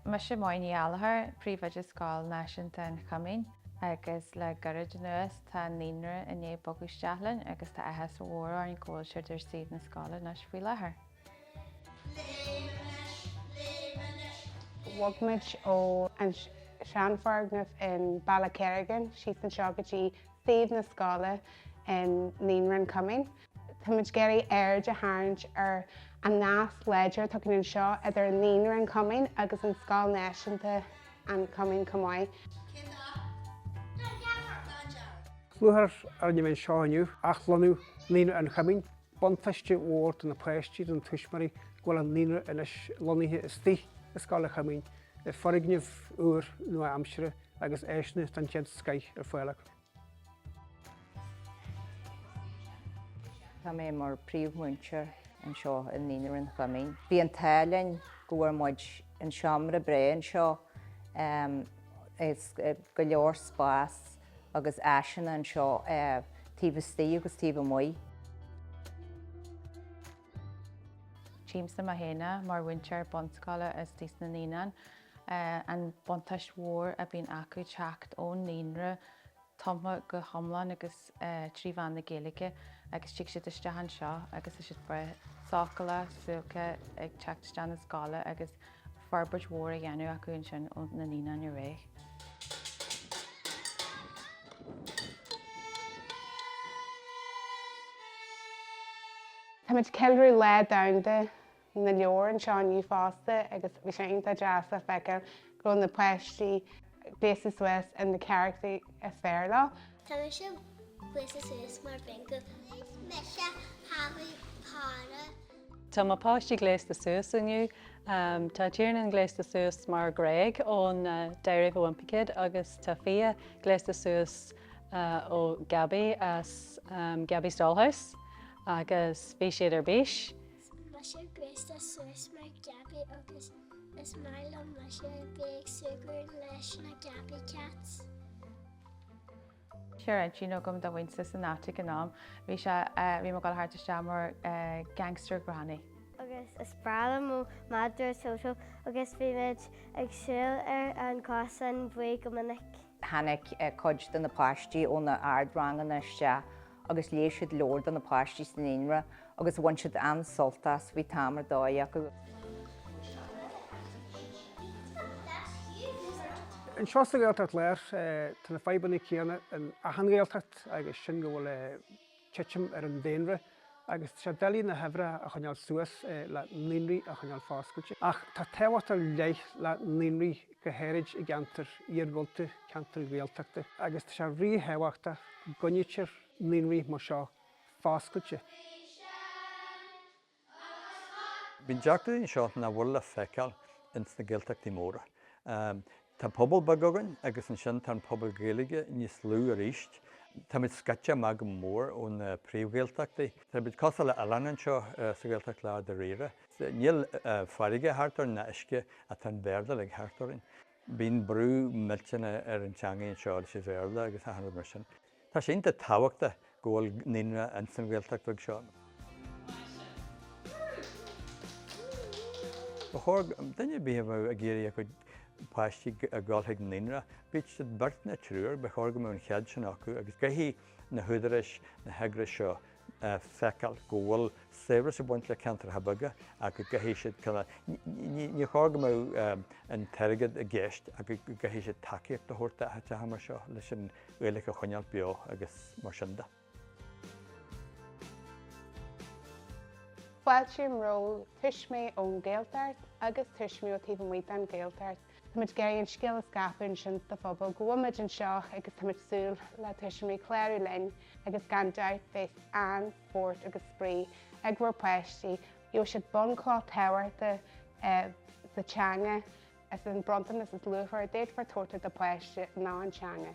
Mise Máire Ní Ghallachair, Príomhoide Scoil Náisiúnta an Choimín agus le gairid anuas tá an naíonra i ndiaidh bogadh isteach linn agus tá áthas mór orainn go bhfuil siad ar suíomh na scoile anois faoi láthair. Bhog muid ó an seanfhoirgneamh in Ballakerrigan síos anseo go dtí suíomh na scoile i naíonra an Choimín. Táimid ag iarraidh aird a tharraingt ar an nasc láidir atá againn anseo idir an Naíonra, An Coimín agus an Scoil Náisiúnta, An Coimín chomh maith. Cén dath? Dath dearg. Ceiliúradh ar an maidin seo inniu, athlonnú Naíonra an Choimín. Buntáiste mór do na páistí, do na tuismitheoirí go bhfuil an Naíonra anois lonnaithe istigh i Scoil an Choimín, i foirgneamh úr nua-aimseartha agus áiseanna den chéad scoth ar fáil acu. Tá mé mar príomh-mhúinteoir anseo i Naíonra an Choimín. Bhí an t-ádh linn go bhfuair muid an seomra breá anseo is go leor spás agus áiseanna anseo taobh istigh agus taobh amuigh. Tchímse mé féin mar mhúinteoir bunscoile istigh sna naíonáin. an buntáiste mór a bhíonn acu teacht ón naíonra tumtha go hiomlán agus trí mheán na Gaeilge agus tig siad isteach anseo agus tá siad breá sócúlach, suáilce ag teacht isteach na scoile agus forbairt mhór á dhéanamh acu ansin ó na naíonáin ar aghaidh. Táimid ag ceiliúradh Lá Domhanda na Leabhar anseo inniu fosta agus bhí sé iontach deas a feiceáil go bhfuil na páistí gléasta suas in na carachtair is fearr leo. Tá mise gléasta suas mar Bingo. Is mise Harry Potter. Tá mo páistí gléasta suas inniu. Tá Tiernan gléasta suas mar Greg ón Diary of a Wimpy Kid agus tá Fia gléasta suas ó Gabby as Gabby's Dollhouse agus bhí siad ar bís. Mise gléasta suas mar Gabby agus is maith liom mise a bheith ag súgradh leis na Gabby Cats. Sure an síneadh agam do mhuintir san áitic in am. Bhí sé bhí mo gol thart isteach mar gangster granny. Agus is breá liom mo madra Toto agus bímid ag siúl ar an gcosán buí go minic. Tháinig cuid de na páistí ó na ard-ranganna isteach agus léigh siad leabhair do na páistí sa naíonra agus bhain siad an-sult as. Bhí am ar dóigh acu. Anseo sa Ghaeltacht Láir tá na fadhbanna céanna in achan Ghaeltacht agus sin go bhfuil titim ar an daonra agus tá sé deacair na huimhreacha a choinneáil suas le naíonraí a choinneáil foscailte. Ach tá tábhacht ar leith le naíonraí go háirithe i gceantair iargúlta, ceantair Ghaeltachta, agus tá sé ríthábhachtach go gcoinnítear naíonraí mar seo foscailte. Bíonn deacrachtaí anseo nach bhfuil le feiceáil ins na Gaeltachtaí móra. Tá pobal beag againn agus ansin tá an pobal Gaeilge níos lú arís. Tá muid scoite amach go mór ó na príomh-Ghaeltachtaí. Tá muid cosúil le hoileán anseo sa Ghaeltacht dáiríre. Níl farraige thart orainn ná uisce ach tá an Béarla thart orainn. Bíonn brú millteanach ar an teangaidh anseo leis an Bhéarla agus achan rud mar sin. Tá sé iontach tábhachtach go bhfuil naíonra ins an Ghaeltacht bheag seo. Ba chóir duine ar bith a bheadh ag iarraidh a chuid páistí a dhul chuig naíonra, bíodh siad beirt nó triúr, ba chóir go mbeadh an cead sin acu agus caithfidh na húdaráis, na heagrais seo, a feiceáil go bhfuil saibhreas ag baint le ceantracha beaga ach go gcaithfidh siad ní chóir go mbeadh an t-airgead i gceist ach go gcaithfidh siad tacaíocht a thabhairt d'áiteacha mar seo leis an Ghaeilge a choinneáil beo agus mar sin de. Fáiltím roimh thuismitheoirí ón nGaeltacht agus tuismitheoirí ó taobh amuigh den Ghaeltacht. Táimid ag iarraidh an scéal a scaipeadh ansin sa phobal go bhfuilmid anseo agus táimid ag súil le tuismitheoirí clárú linn agus gan dabht beidh an-spórt agus spraoi ag bhur bpáistí, gheobhaidh siad bunchloch tábhachtach sa teanga, is é an bronntanas is luachmhaire a d'fhéadfá a thabhairt do do pháiste ná an teanga.